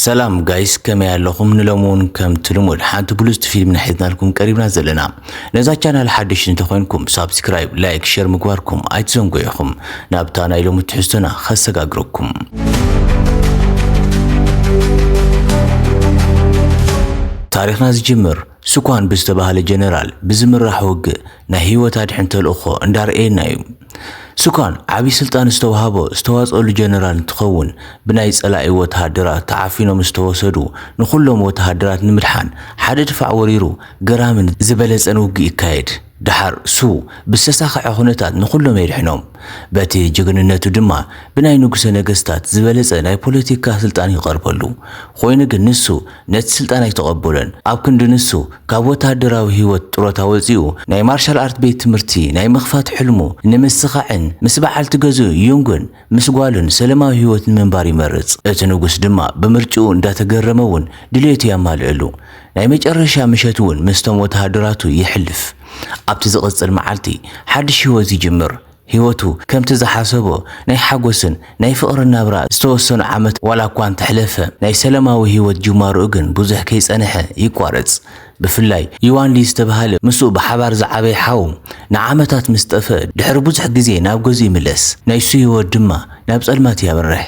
ሰላም ጋይስ ከመይ ኣለኹም? ንሎሚ እውን ከምቲ ልሙድ ሓንቲ ብሉጽቲ ፊልም ንሒዝናልኩም ቀሪብና ዘለና። ነዛ ቻናል ሓደሽ እንተኾይንኩም ሳብስክራይብ፣ ላይክ፣ ሸር ምግባርኩም ኣይትዘንግዑ ኢኹም። ናብታ ናይ ሎሚ ትሕዝቶና ከሰጋግረኩም። ታሪኽና ዝጅምር ስኳን ብዝተባህለ ጀነራል ብዝምራሕ ውግእ ናይ ህይወት ኣድሕን ተልእኾ እንዳርኣየና እዩ። ስኳን ዓብይ ስልጣን ዝተውሃቦ ዝተዋፀኣሉ ጀነራል እንትኸውን ብናይ ፀላኢ ወተሃደራት ተዓፊኖም ዝተወሰዱ ንኹሎም ወተሃደራት ንምድሓን ሓደ ድፋዕ ወሪሩ ገራምን ዝበለፀን ውግእ ይካየድ። ደሓር እሱ ብዝተሳኸዐ ኩነታት ንኹሎም የድሕኖም። በቲ ጅግንነቱ ድማ ብናይ ንጉሰ ነገስታት ዝበለጸ ናይ ፖለቲካ ስልጣን ይቐርበሉ። ኮይኑ ግን ንሱ ነቲ ስልጣን ኣይተቐበሎን። ኣብ ክንዲ ንሱ ካብ ወተሃደራዊ ህይወት ጥሮታ ወጺኡ ናይ ማርሻል ኣርት ቤት ትምህርቲ ናይ ምኽፋት ሕልሙ ንምስኻዕን ምስ በዓልቲ ገዝኡ ዩንግን ምስ ጓሉን ሰለማዊ ህይወት ንምንባር ይመርጽ። እቲ ንጉስ ድማ ብምርጭኡ እንዳተገረመ እውን ድልየቱ ያማልእሉ። ናይ መጨረሻ ምሸት እውን ምስቶም ወተሃደራቱ የሕልፍ። ኣብቲ ዝቕጽል መዓልቲ ሓድሽ ህይወት ይጅምር። ህይወቱ ከምቲ ዝሓሰቦ ናይ ሓጎስን ናይ ፍቕርን ናብራ ዝተወሰኑ ዓመታት ዋላ እኳ እንተሕለፈ ናይ ሰለማዊ ህይወት ጅማሮኡ ግን ብዙሕ ከይጸንሐ ይቋረጽ። ብፍላይ ዩዋንሊ ዝተብሃለ ምስኡ ብሓባር ዝዓበየ ሓው ንዓመታት ምስ ጠፍአ ድሕሪ ብዙሕ ግዜ ናብ ገዝኡ ይምለስ፣ ናይሱ ህይወት ድማ ናብ ጸልማት ያምርሕ።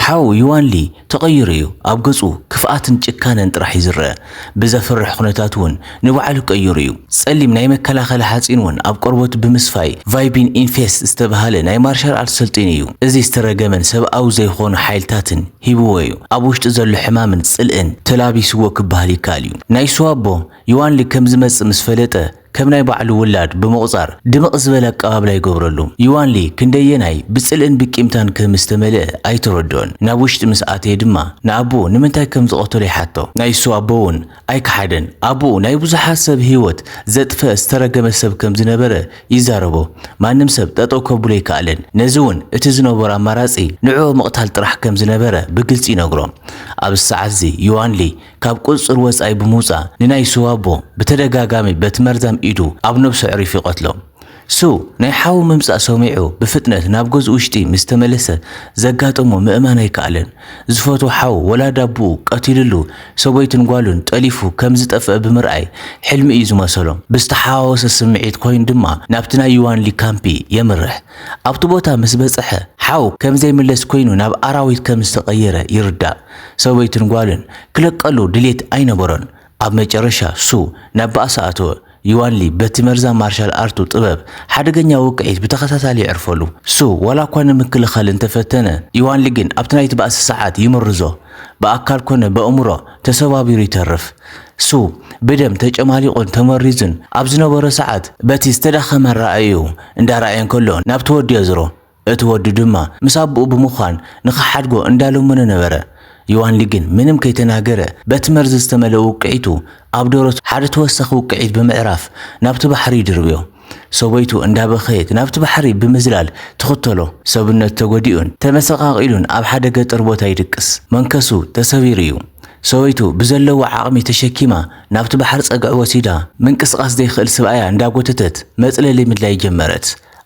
ሓው ዩዋንሊ ተቐይሩ እዩ፣ ኣብ ገጹ ክፍኣትን ጭካነን ጥራሕ እዩ ዝረኣ፣ ብዘፍርሕ ኩነታት እውን ንባዕሉ ቀይሩ እዩ። ጸሊም ናይ መከላኸሊ ሓጺን እውን ኣብ ቆርበቱ ብምስፋይ ቫይቢን ኢንፌስት ዝተብሃለ ናይ ማርሻል ኣርት ሰልጢኑ እዩ፣ እዚ ዝተረገመን ሰብኣዊ ዘይኾኑ ሓይልታትን፣ ሂብዎ እዩ። ኣብ ውሽጢ ዘሎ ሕማምን ጽልእን ተላቢስዎ ክበሃል ይከኣል እዩ። ናይ ሱዋቦ፣ ዩዋንሊ ከም ዝመጽእ ምስ ፈለጠ፣ ከም ናይ ባዕሉ ውላድ ብምቑጻር፣ ድምቕ ዝበለ ኣቀባብላ ይገብረሉ። ዩዋንሊ ክንደየናይ ብጽልእን ብቂምታን ከም ዝተመልአ ኣይተረድኦን። ናብ ውሽጢ ምስ ኣተየ ድማ፣ ንኣቦኡ ንምንታይ ከም ዝቐተሎ ይሓቶ። ናይ ሱዋቦ'ውን ኣይከሓደን ኣቡኡ ናይ ብዙሓት ሰብ ሂወት ዘጥፈ ዝተረገመ ሰብ ከም ዝነበረ ይዛረቦ ማንም ሰብ ጠጠው ከብሎ ኣይከኣለን ነዚ ውን እቲ ዝነበሮ ኣማራጺ ንዕኡ ምቕታል ጥራሕ ከም ዝነበረ ብግልጺ ይነግሮ ኣብዚ ሰዓት እዚ ዮዋንሊ ካብ ቁጽጽር ወጻኢ ብምውጻእ ንናይ ስዋቦ ብተደጋጋሚ በቲ መርዛም ኢዱ ኣብ ነብሱ ኣዕሪፉ ይቐትሎ ሱ፣ ናይ ሓዉ ምምጻእ ሰሚዑ ብፍጥነት ናብ ገዝኡ ውሽጢ ምስ ተመለሰ ዘጋጠሞ ምእማን ኣይከኣለን። ዝፈትዎ ሓዉ ወላዲ ኣቡኡ ቀቲሉሉ ሰበይቱን ጓሉን ጠሊፉ ከም ዝጠፍኣ ብምርኣይ ሕልሚ እዩ ዝመሰሎ። ብዝተሓዋወሰ ስምዒት ኮይኑ ድማ ናብቲ ናይ ዩዋንሊ ካምፒ የምርሕ። ኣብቲ ቦታ ምስ በጸሐ ሓዉ ከም ዘይምለስ ኮይኑ ናብ ኣራዊት ከም ዝተቐየረ ይርዳእ። ሰበይቱን ጓሉን ክለቀሉ ድሌት ኣይነበሮን። ኣብ መጨረሻ፣ ሱ ናብ ባእሲ ኣተወ። ዩዋን ሊ በቲ መርዛም ማርሻል ኣርቱ ጥበብ ሓደገኛ ውቅዒት ብተኸታታሊ ይዕርፈሉ። ሱ ዋላ እኳ ንምክልኻል እንተ ፈተነ፣ ዩዋን ሊ ግን ኣብቲ ናይቲ ባእሲ ሰዓት ይምርዞ። ብኣካል ኰነ በእምሮ ተሰባቢሩ ይተርፍ። ሱ ብደም ተጨማሊቑን ተመሪዙን ኣብ ዝነበሮ ሰዓት፣ በቲ ዝተዳኸመ ኣረኣእያኡ እንዳ ረኣየ እንከሎ ናብቲ ወዱ የዝሮ። እቲ ወዱ ድማ ምስ ኣቦኡ ብምዃን ንኽሓድጎ እንዳለመኖ ነበረ። ዮዋንሊ ግን ምንም ከይተናገረ በቲ መርዚ ዝተመልአ ውቅዒቱ ኣብ ደረቱ ሓደ ተወሳኺ ውቅዒት ብምዕራፍ ናብቲ ባሕሪ ይድርብዮ። ሰበይቱ እንዳበኸየት ናብቲ ባሕሪ ብምዝላል ትኽተሎ። ሰብነቱ ተጎዲኡን ተመሰቃቂሉን ኣብ ሓደ ገጠር ቦታ ይድቅስ። መንከሱ ተሰቢሩ እዩ። ሰበይቱ ብዘለዋ ዓቕሚ ተሸኪማ ናብቲ ባሕሪ ጸግዒ ወሲዳ ምንቅስቃስ ዘይክእል ስብኣያ እንዳጎተተት መጽለሊ ምድላይ ጀመረት።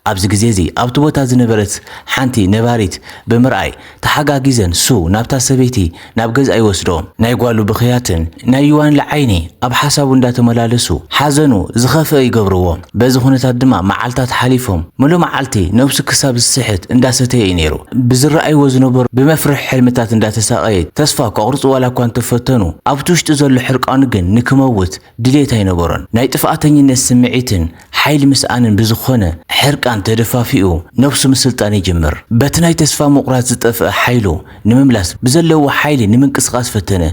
ኣብዚ ግዜ'ዚ ኣብቲ ቦታ ዝነበረት ሓንቲ ነባሪት ብምርኣይ ተሓጋጊዘን ሱው ናብታ ሰበይቲ ናብ ገዝኣ ይወስዶ። ናይ ጓሉ ብኽያትን ናይ ዩዋንለ ዓይኒ ኣብ ሓሳቡ እንዳተመላለሱ ሓዘኑ ዝኸፍኣ ይገብርዎ። በዚ ኩነታት ድማ መዓልታት ሓሊፎም። ምሉእ መዓልቲ ነብሱ ክሳብ ዝስሕት እንዳሰተየ እዩ ነይሩ። ብዝረኣይዎ ዝነበሩ ብመፍርሒ ሕልምታት እንዳተሳቐየ ተስፋ ከቑርጽ ዋላኳ እንተፈተኑ ኣብቲ ውሽጡ ዘሎ ሕርቃኑ ግን ንክመውት ድሌት ኣይነበሮን። ናይ ጥፍኣተኝነት ስምዒትን ሓይሊ ምስኣንን ብዝኾነ ሕርቃን ተደፋፊኡ ነብሱ ምስልጣን ይጅምር። በቲ ናይ ተስፋ ምቑራጽ ዝጠፍኣ ሓይሉ ንምምላስ ብዘለዎ ሓይሊ ንምንቅስቓስ ፈተነ።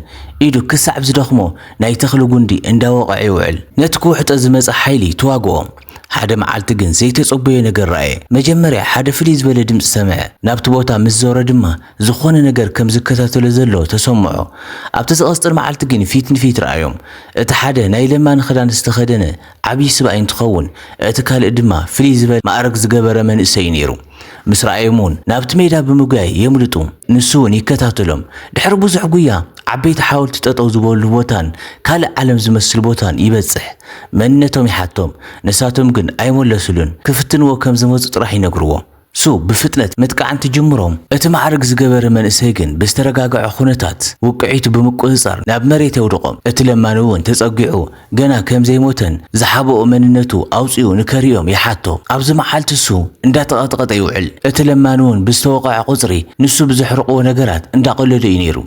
ኢዱ ክሳዕ ዝደኽሞ ናይ ተኽሊ ጉንዲ እንዳወቐዐ ይውዕል። ነቲ ክውሕጦ ዝመጸ ሓይሊ ተዋግኦ። ሓደ መዓልቲ ግን ዘይተጸበዮ ነገር ረኣየ። መጀመርያ ሓደ ፍልይ ዝበለ ድምጺ ሰምዐ። ናብቲ ቦታ ምስ ዞረ ድማ ዝኾነ ነገር ከም ዝከታተሎ ዘሎ ተሰምዖ። ኣብቲ ዝቐጽል መዓልቲ ግን ፊት ንፊት ረኣዮም። እቲ ሓደ ናይ ለማኒ ክዳን ዝተኸደነ ዓብዪ ስብኣይ እንትኸውን፣ እቲ ካልእ ድማ ፍልይ ዝበለ መኣርግ ዝገበረ መንእሰይ'ዩ ነይሩ። ምስ ረኣዮም'ውን ናብቲ ሜዳ ብምጉያይ የምልጡ። ንሱ'ውን ይከታተሎም። ድሕሪ ብዙሕ ጉያ ዓበይቲ ሓወልቲ ጠጠው ዝበልሉ ቦታን ካልእ ዓለም ዝመስል ቦታን ይበጽሕ። መንነቶም ይሓቶም። ንሳቶም ግን ኣይመለሱሉን። ክፍትንዎ ከም ዝመጹ ጥራሕ ይነግርዎ። ሱ ብፍጥነት ምጥቃዕ እንትጅምሮም፣ እቲ ማዕርግ ዝገበረ መንእሰይ ግን ብዝተረጋገዐ ኩነታት ውቅዒቱ ብምቁጽጻር ናብ መሬት የውድቆም። እቲ ለማኒ ውን ተጸጊዑ ገና ከምዘይሞተን ዝሓበኦ መንነቱ ኣውጺኡ ንከርእዮም ይሓቶ። ኣብዚ መዓልቲ ሱ እንዳተቀጥቐጠ ይውዕል። እቲ ለማኒ ውን ብዝተወቐዐ ቁጽሪ ንሱ ብዘሕርቕዎ ነገራት እንዳቀለዶ እዩ ነይሩ።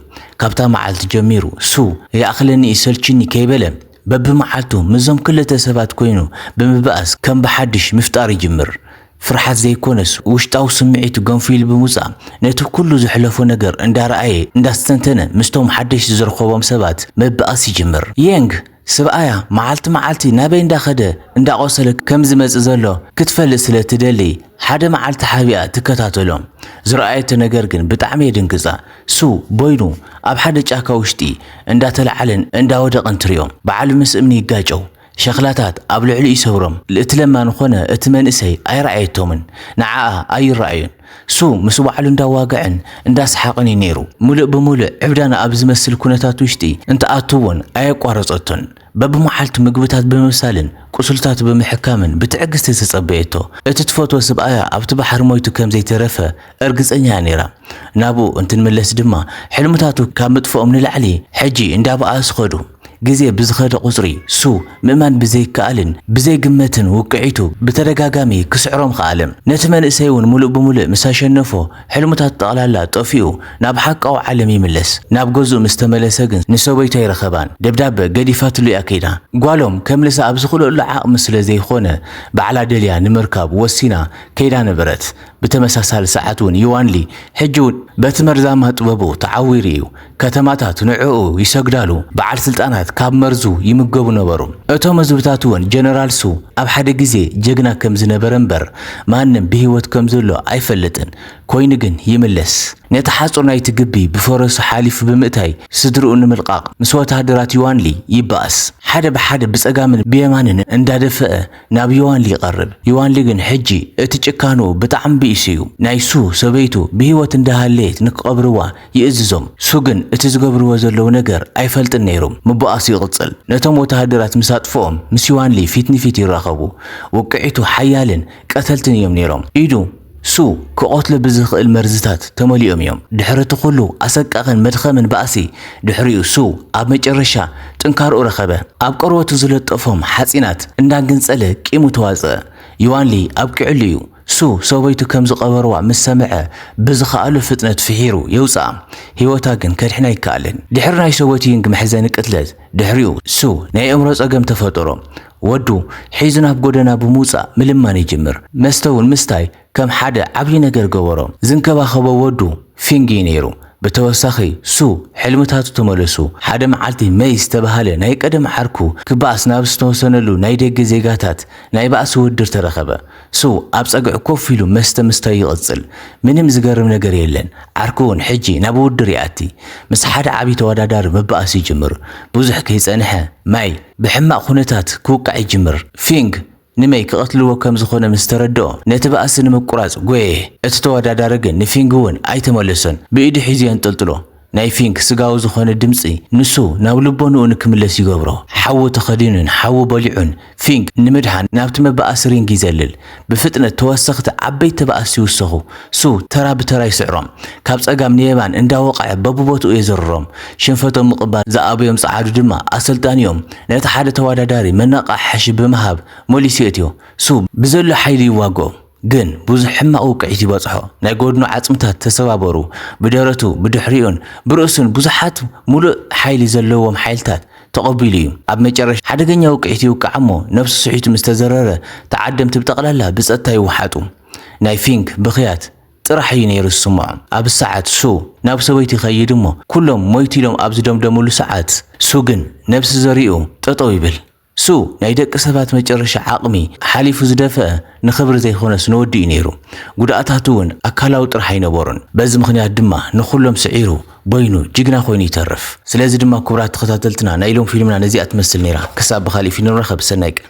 ካብታ መዓልቲ ጀሚሩ ሱ ይኣኽለኒ ይሰልችኒ ከይበለ በብመዓልቱ ምስዞም ክልተ ሰባት ኮይኑ ብምብኣስ ከም ብሓድሽ ምፍጣር ይጅምር። ፍርሓት ዘይኮነስ ውሽጣዊ ስምዒቱ ገንፊሉ ብምውጻእ ነቲ ኩሉ ዘሕለፎ ነገር እንዳረኣየ እንዳስተንተነ ምስቶም ሓደሽቲ ዝረኸቦም ሰባት ምብኣስ ይጅምር። የንግ ስብኣያ መዓልቲ መዓልቲ ናበይ እንዳኸደ እንዳቖሰለ ከም ዝመጽእ ዘሎ ክትፈልጥ ስለ እትደሊ ሓደ መዓልቲ ሓቢኣ ትከታተሎ። ዝረኣየቶ ነገር ግን ብጣዕሚ የድንግጻ። ስው ቦይሉ ኣብ ሓደ ጫካ ውሽጢ እንዳተለዓለን እንዳወደቐን ትሪኦ። በዓሉ ምስ እምኒ ይጋጨው። ሸኽላታት ኣብ ልዕሊኡ ይሰብሮም። ልእቲ ለማኒ ኮነ እቲ መንእሰይ ኣይረኣየቶምን። ንዓኣ ኣይረኣዩን። ሱ ምስ ባዕሉ እንዳዋገዐን እንዳሰሓቕን እዩ ነይሩ። ምሉእ ብምሉእ ዕብዳና ኣብ ዝመስል ኩነታት ውሽጢ እንትኣቱ እውን ኣየቋረጸቶን። በብመዓልቱ ምግብታት ብምብሳልን ቁስልታቱ ብምሕካምን ብትዕግስቲ ተጸበየቶ። እቲ ትፈትዎ ስብኣያ ኣብቲ ባሕሪ ሞይቱ ከም ዘይተረፈ እርግጸኛ እያ ነይራ። ናብኡ እንትንምለስ ድማ ሕልምታቱ ካብ ምጥፍኦም ንላዕሊ ሕጂ እንዳበኣሱ ከዱ። ግዜ ብዝኸደ ቁጽሪ ሱ ምእማን ብዘይከኣልን ብዘይግመትን ውቅዒቱ ብተደጋጋሚ ክስዕሮም ኸኣለ። ነቲ መንእሰይ እውን ምሉእ ብምሉእ ምስ ኣሸነፎ ሕልሙታቱ ጠቕላላ ጠፊኡ ናብ ሓቃዊ ዓለም ይምለስ። ናብ ገዝኡ ምስ ተመለሰ ግን ንሰበይቱ ኣይረኸባን። ደብዳበ ገዲፋትሉ እያ ከይዳ። ጓሎም ከምልሳ ኣብ ዝኽልእሉ ዓቕሚ ስለ ዘይኾነ ባዕላ ደልያ ንምርካብ ወሲና ከይዳ ነበረት። ብተመሳሳሊ ሰዓት እውን ዮዋንሊ ሕጂ እውን በቲ መርዛማ ጥበቡ ተዓዊሩ እዩ። ከተማታት ንዕኡ ይሰግዳሉ፣ በዓል ስልጣናት ካብ መርዙ ይምገቡ ነበሩ። እቶም ህዝብታትውን ጀነራልሱ ኣብ ሓደ ግዜ ጀግና ከም ዝነበረ እምበር ማንም ብህይወት ከም ዘሎ ኣይፈልጥን። ኮይኑ ግን ይምለስ። ነቲ ሓጹር ናይቲ ግቢ ብፈረሱ ሓሊፉ ብምእታይ ስድርኡ ንምልቃቕ ምስ ወተሃደራት ዮዋንሊ ይበኣስ። ሓደ ብሓደ ብጸጋምን ብየማንን እንዳደፈኣ ናብ ዮዋንሊ ይቐርብ። ዮዋንሊ ግን ሕጂ እቲ ጭካንኡ ብጣዕሚ ብኢሱዩ። ናይሱ ሰበይቱ ብህይወት እንዳሃለየት ንክቐብርዋ ይእዝዞም። ሱ ግን እቲ ዝገብርዎ ዘለዉ ነገር ኣይፈልጥን ነይሩም። ምቡኣሱ ይቕጽል። ነቶም ወተሃደራት ምስ ኣጥፍኦም ምስ ዩዋንሊ ፊት ንፊት ይራኸቡ። ውቅዒቱ ሓያልን ቀተልትን እዮም ነይሮም። ኢዱ፣ ሱ፣ ክቐትሎ ብዝኽእል መርዝታት ተመሊኦም እዮም። ድሕሪ እቲ ኩሉ ኣሰቃቕን መድኸምን ባእሲ ድሕሪኡ ሱ ኣብ መጨረሻ ጥንካርኡ ረኸበ። ኣብ ቆርበቱ ዝለጠፎም ሓጺናት እንዳገንጸለ ቂሙ ተዋጽኣ። ዩዋንሊ ኣብቂዑሉ እዩ። ሱ፣ ሰበይቱ ከም ዝቐበርዋ ምስ ሰምዐ፣ ብዝኸኣሎ ፍጥነት ፍሒሩ የውጽኣ። ህይወታ ግን ከድሕን ኣይከኣለን። ድሕሪ ናይ ሰበይቱ ይንግ መሕዘኒ ቅትለት ድሕሪኡ፣ ሱ ናይ ኣእምሮ ጸገም ተፈጠሮ። ወዱ ሒዙ ናብ ጎደና ብምውጻእ ምልማን ይጅምር። መስተ እውን ምስታይ ከም ሓደ ዓብዪ ነገር ገበሮ። ዝንከባኸቦ ወዱ ፊንግ እዩ ነይሩ። ብተወሳኺ፣ ሱ ሕልምታቱ ተመለሱ። ሓደ መዓልቲ መይ ዝተበሃለ ናይ ቀደም ዓርኩ ክበኣስ ናብ ዝተወሰነሉ ናይ ደገ ዜጋታት ናይ ባእሲ ውድድር ተረኸበ። ሱ ኣብ ጸግዒ ኮፍ ኢሉ መስተ ምስታዩ ይቕጽል። ምንም ዝገርም ነገር የለን። ዓርኩ'ውን ሕጂ ናብ ውድድር ይኣቲ። ምስ ሓደ ዓቢ ተወዳዳሪ ምባኣስ ይጅምር። ብዙሕ ከይጸንሐ፣ ማይ ብሕማቕ ኩነታት ክውቃዕ ይጅምር። ፊንግ ንመይ ክቐትልዎ ከም ዝኾነ ምስ ተረድኦ፣ ነቲ ባእሲ ንምቁራጽ ጎየየ። እቲ ተወዳዳሪ ግን ንፊንግ'ውን ኣይተመለሶን። ብኢዱ ሒዙ የንጠልጥሎ። ናይ ፊንክ ስጋዊ ዝኾነ ድምጺ ንሱ ናብ ልቦንኡ ንክምለስ ይገብሮ። ሓዊ ተኸዲኑን ሓዊ በሊዑን፣ ፊንክ ንምድሓን ናብቲ መባኣሲ ሪንግ ይዘልል። ብፍጥነት ተወሰኽቲ ዓበይቲ ተባኣስቲ ይውሰኹ። ሱ ተራ ብተራ ይስዕሮም። ካብ ጸጋም ንየማን እንዳወቐዐ በብቦትኡ የዘርሮም። ሽንፈቶም ምቕባል ዝኣበዮም ጸዓዱ ድማ ኣሰልጣኒኦም ነቲ ሓደ ተወዳዳሪ መነቓሕሒ ብምሃብ መሊሱ የእትዮ። ሱ ብዘሎ ሓይሊ ይዋግኦም። ግን ብዙሕ ሕማቕ ውቅዒት ይበጽሖ፣ ናይ ጎድኑ ዓጽምታት ተሰባበሩ፣ ብደረቱ፣ ብድሕሪኡን ብርእሱን ብዙሓት ምሉእ ሓይሊ ዘለዎም ሓይልታት ተቐቢሉ እዩ። ኣብ መጨረሻ ሓደገኛ ውቅዒት ይውቃዕ እሞ ነብሱ ስሒቱ ምስ ተዘረረ ተዓደምቲ ብጠቕላላ ብጸጥታ ይወሓጡ። ናይ ፊንክ ብኽያት ጥራሕ እዩ ነይሩ ዝስምዖ። ኣብ ሰዓት ሱ ናብ ሰበይቱ ይኸይድ እሞ ኩሎም ሞይቱ ኢሎም ኣብ ዝደምደምሉ ሰዓት ሱ ግን ነብሲ ዘሪኡ ጠጠው ይብል። ሱ ናይ ደቂ ሰባት መጨረሻ ዓቕሚ ሓሊፉ ዝደፈእ ንኽብሪ ዘይኮነስ ንወዲ እዩ ነይሩ። ጉድኣታቱ እውን ኣካላዊ ጥራሕ ኣይነበሩን። በዚ ምኽንያት ድማ ንኹሎም ስዒሩ፣ በይኑ፣ ጅግና ኮይኑ ይተርፍ። ስለዚ ድማ ክቡራት ተኸታተልትና ናይ ሎም ፊልምና ነዚኣ ትመስል ነይራ። ክሳብ ብኻሊእ ፊልም ንራኸብ ሰናይ ቀን።